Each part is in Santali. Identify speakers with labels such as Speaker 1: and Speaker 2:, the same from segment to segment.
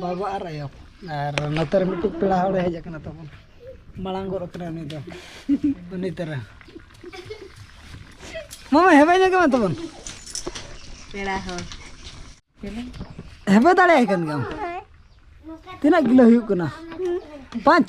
Speaker 1: ᱵᱟᱵᱟ ᱟᱨ ᱟᱭᱳ ᱟᱨ ᱱᱚᱛᱮ ᱨᱮ ᱢᱤᱫᱴᱤᱡ ᱯᱮᱲᱟ ᱦᱚᱲᱮ ᱦᱮᱡ ᱟᱠᱟᱱᱟ ᱛᱟᱵᱚᱱ ᱢᱟᱲᱟᱝ ᱜᱚᱫ ᱟᱠᱟᱱᱟ ᱩᱱᱤ ᱫᱚ ᱩᱱᱤ ᱛᱟᱨᱟ ᱢᱟᱢᱟ ᱦᱮᱵᱮ ᱧᱚᱜ ᱜᱮ ᱢᱮ ᱛᱟᱵᱚᱱ
Speaker 2: ᱯᱮᱲᱟ ᱦᱚᱲ
Speaker 1: ᱦᱮᱵᱮ ᱫᱟᱲᱮᱭᱟᱭ ᱠᱟᱱ ᱜᱮᱭᱟᱢ ᱛᱤᱱᱟᱹᱜ ᱠᱤᱞᱳ ᱦᱩᱭᱩᱜ ᱠᱟᱱᱟ ᱯᱟᱸᱪ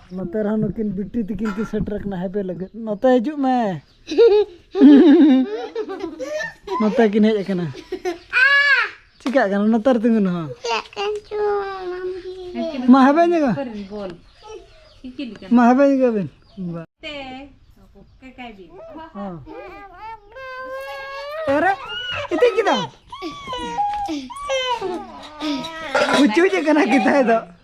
Speaker 1: ᱱᱚᱛᱮ ᱨᱮᱦᱚᱸ ᱱᱩᱠᱤᱱ ᱵᱤᱴᱤ ᱛᱤᱠᱤᱱ ᱠᱤᱱ ᱥᱮᱴᱮᱨ ᱟᱠᱟᱱᱟ ᱦᱮᱯᱮ ᱞᱟᱹᱜᱤᱫ ᱱᱚᱛᱮ ᱦᱤᱡᱩᱜ ᱢᱮ ᱱᱚᱛᱮ ᱠᱤᱱ ᱦᱮᱡ ᱟᱠᱟᱱᱟ ᱪᱤᱠᱟᱹᱜ ᱠᱟᱱᱟ ᱱᱚᱛᱮ ᱨᱮ ᱛᱤᱸᱜᱩᱱ ᱦᱚᱸ ᱢᱟ ᱦᱮᱵᱮ ᱧᱮᱜᱟ
Speaker 2: ᱢᱟ ᱦᱮᱵᱮ ᱧᱮᱜᱟ
Speaker 1: ᱵᱤᱱ ᱮᱨᱮ ᱤᱛᱤ ᱠᱤᱫᱟ ᱩᱪᱩᱡ ᱠᱟᱱᱟ ᱠᱤᱛᱟᱭ ᱫᱚ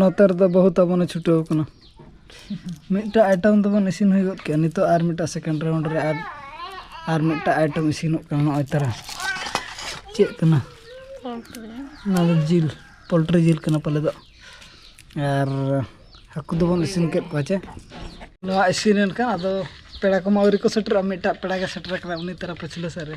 Speaker 2: ᱱᱚᱛᱮ
Speaker 1: ᱨᱮᱫᱚ ᱵᱟᱹᱦᱩ ᱛᱟᱵᱚᱱᱮ ᱪᱷᱩᱴᱟᱹᱣ ᱠᱟᱱᱟ ᱢᱤᱫᱴᱟᱜ ᱟᱭᱴᱮᱢ ᱫᱚᱵᱚᱱ ᱤᱥᱤᱱ ᱦᱩᱭ ᱜᱚᱫ ᱠᱮᱜᱼᱟ ᱱᱤᱛᱚᱜ ᱟᱨ ᱢᱤᱫᱴᱟᱜ ᱥᱮᱠᱮᱱᱰ ᱨᱟᱣᱩᱱᱰ ᱨᱮ ᱟᱨ ᱟᱨ ᱢᱤᱫᱴᱟᱜ ᱟᱭᱴᱮᱢ ᱤᱥᱤᱱᱚᱜ ᱠᱟᱱᱟ ᱱᱚᱜᱼᱚᱭ ᱛᱟᱨᱟ ᱪᱮᱫ ᱠᱟᱱᱟ ᱚᱱᱟ ᱫᱚ ᱡᱤᱞ ᱯᱳᱞᱴᱨᱤ ᱡᱤᱞ ᱠᱟᱱᱟ ᱯᱟᱞᱮ ᱫᱚ ᱟᱨ ᱦᱟᱹᱠᱩ ᱫᱚᱵᱚᱱ ᱤᱥᱤᱱ ᱠᱮᱫ ᱠᱚᱣᱟ ᱪᱮ ᱱᱚᱣᱟ ᱤᱥᱤᱱ ᱮᱱᱠᱷᱟᱱ ᱟᱫᱚ ᱯᱮᱲᱟ ᱠᱚᱢᱟ ᱟᱹᱣᱨᱤ ᱠᱚ ᱥᱮᱴᱮᱨᱚᱜᱼᱟ ᱢᱤᱫᱴᱟᱜ ᱯᱮᱲᱟ ᱜᱮ ᱥᱮᱴᱮᱨ ᱟᱠᱟᱱᱟ ᱩᱱᱤ ᱛᱟᱨᱟ ᱯᱟᱹᱪᱷᱞᱟᱹ ᱥᱮᱫ ᱨᱮ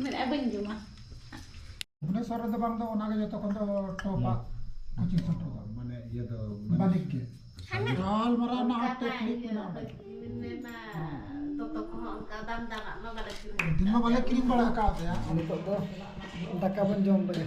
Speaker 2: ᱢᱮᱱᱮᱫᱼᱟ ᱵᱟᱹᱧ ᱡᱚᱢᱟ
Speaker 3: ᱵᱷᱩᱵᱽᱱᱮᱥᱚᱨ ᱨᱮᱫᱚ ᱵᱟᱝ ᱫᱚ ᱚᱱᱟᱜᱮ ᱡᱚᱛᱚ ᱠᱷᱚᱱ ᱫᱚ ᱴᱚᱯᱟᱜ ᱠᱳᱪᱤᱝ ᱥᱮᱱᱴᱟᱨ ᱫᱚ ᱢᱟᱱᱮ ᱤᱭᱟᱹ ᱫᱚ ᱵᱟᱹᱱᱤᱡ ᱜᱮ ᱜᱟᱞᱢᱟᱨᱟᱣ ᱨᱮᱱᱟᱜ ᱦᱚᱸ ᱴᱮᱠᱱᱤᱠ ᱢᱮᱱᱟᱜᱼᱟ ᱫᱤᱱ ᱢᱟ ᱵᱟᱞᱮ ᱠᱤᱨᱤᱧ ᱵᱟᱲᱟ ᱟᱠᱟᱫ ᱛᱟᱭᱟ ᱱᱤᱛᱚᱜ ᱫᱚ
Speaker 1: ᱫᱟᱠᱟ ᱵᱚᱱ ᱡᱚᱢ ᱞᱮᱜᱮ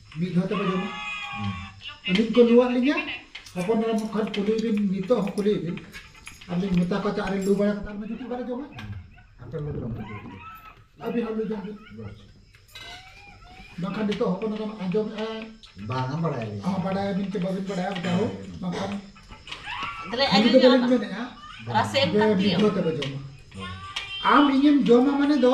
Speaker 3: ᱢᱤᱫ ᱫᱷᱟᱣ ᱛᱮᱯᱮ ᱡᱚᱢᱟ ᱟᱹᱞᱤᱧ ᱠᱚ ᱞᱩᱣᱟᱫ ᱞᱤᱧᱟ ᱦᱚᱯᱚᱱ ᱮᱨᱟ ᱠᱷᱟᱱ ᱠᱩᱞᱤ ᱵᱤᱱ ᱱᱤᱛᱚᱜ ᱦᱚᱸ ᱠᱩᱞᱤ ᱵᱤᱱ ᱟᱨ ᱞᱤᱧ ᱢᱮᱛᱟ ᱠᱚᱣᱟ ᱪᱮᱫ ᱟᱨᱮ ᱞᱩ ᱵᱟᱲᱟ ᱠᱟᱛᱮ ᱟᱨ ᱢᱤᱫ ᱫᱷᱟᱣ ᱵᱟᱞᱮ ᱡᱚᱢᱟ ᱟᱯᱮ ᱞᱩ ᱡᱚᱢ ᱟᱹᱵᱤᱱ ᱦᱚᱸ ᱞᱩ ᱡᱚᱢ ᱵᱤᱱ ᱵᱟᱝᱠᱷᱟᱱ ᱱᱤᱛᱚᱜ ᱦᱚᱯᱚᱱ ᱮᱨᱟ ᱟᱸᱡᱚᱢ ᱵᱟᱝᱟ
Speaker 4: ᱵᱟᱲᱟᱭ ᱦᱚᱸ ᱵᱟᱰᱟᱭ ᱟᱹᱵᱤᱱ ᱪᱮ ᱵᱟᱹᱵᱤᱱ
Speaker 3: ᱵᱟᱰᱟᱭᱟ ᱡᱟᱦᱳ ᱵᱟᱝᱠᱷᱟᱱ ᱛᱟᱦᱞᱮ ᱟᱹᱞᱤᱧ ᱫᱚ ᱵᱟᱹᱞᱤᱧ
Speaker 2: ᱢᱮᱱᱮᱜᱼᱟ
Speaker 3: ᱨᱟᱥᱮ ᱮᱢ ᱠᱟᱛᱮ
Speaker 2: ᱢᱤᱫ ᱫᱷᱟᱣ ᱛᱮᱯᱮ ᱡᱚᱢᱟ
Speaker 3: ᱟᱢ ᱤᱧᱮᱢ ᱡᱚᱢᱟ ᱢᱟᱱᱮ ᱫᱚ